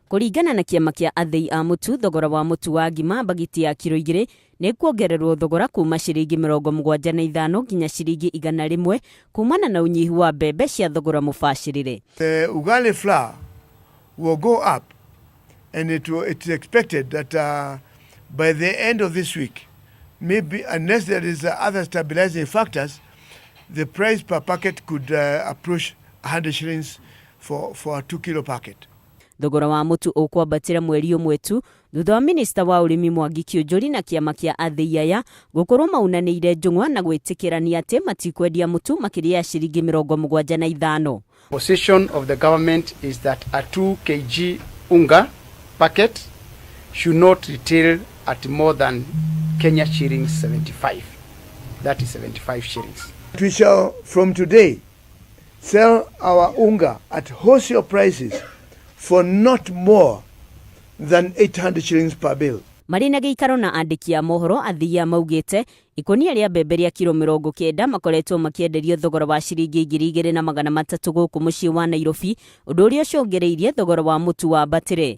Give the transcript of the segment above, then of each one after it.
Kũringana na kĩama kĩa athĩi a mũtu, thogora wa mũtu wa ngima mbagiti ya kiro igĩrĩ nĩ kuongererwo thogora kuma ciringi mĩrongo mũgwanja na ithano nginya ciringi igana rĩmwe kumana na ũnyihu wa mbembe cia thogora mũbacĩrĩre. The ugali flour will go up and it will, it's expected that uh, by the end of this week, maybe unless there is uh, other stabilizing factors, the price per packet could uh, approach 100 shillings for, for a two kilo packet. Thogora wa mũtu ũkwambatĩra mweri ũmwe tu thutha wa minista wa ũrĩmi Mwangi Kĩũnjũri na kĩama kĩa athĩi aya gũkorwo maunanĩire njũng'wa na gwĩtĩkĩrania atĩ matikwendia mũtu makĩria ya ciringi mĩrongo mũgwanja na ithano. Position of the government is that a 2 kg unga packet should not retail at more than Kenya shillings 75. That is 75 shillings. We shall from today sell our unga at wholesale prices for not more than 800 shillings per bale. Marĩ na gĩikaro na andĩki a mohoro, Athiia maugĩte ikũnia rĩa mbembe rĩa kiro mĩrongo kenda makoretwo makĩenderio thogora wa ciringi ngiri igĩrĩ na magana matatũ gũkũ mũciĩ wa Nairobi, ũndũ ũrĩa ũcũngĩrĩirie thogora wa mũtu wambatĩre.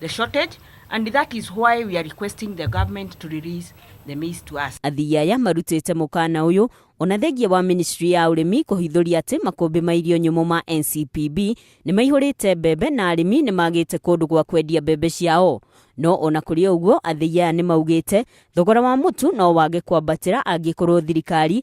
the shortage and that is why we are requesting the government to release the maize to us. Athii aya marutĩte mũkana ũyũ ona thengia wa ministry ya ũrĩmi kũhithũria atĩ makũmbĩ ma irio nyũmũ ma NCPB nĩ maihũrĩte mbembe na arĩmi nĩ magĩte kũndũ gwa kwendia mbembe ciao no ona kũrĩ ũguo athei aya nĩ maugĩte thogora wa mũtu no wage kwambatĩra angĩkorwo thirikari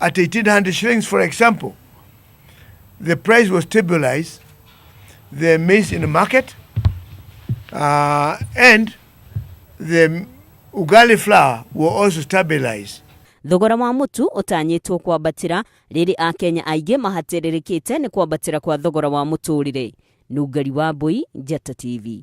At 1800 shillings, for example, the price was stabilized, the maize in the market, uh, and the ugali flour were also stabilized. thogora wa mũtu ũtanyĩtwo kwambatĩra rĩrĩ akenya aingĩ mahatĩrĩrĩkĩte nĩ kwambatĩra kwa thogora wa mũtũrĩre nungari wa mbũi njata tv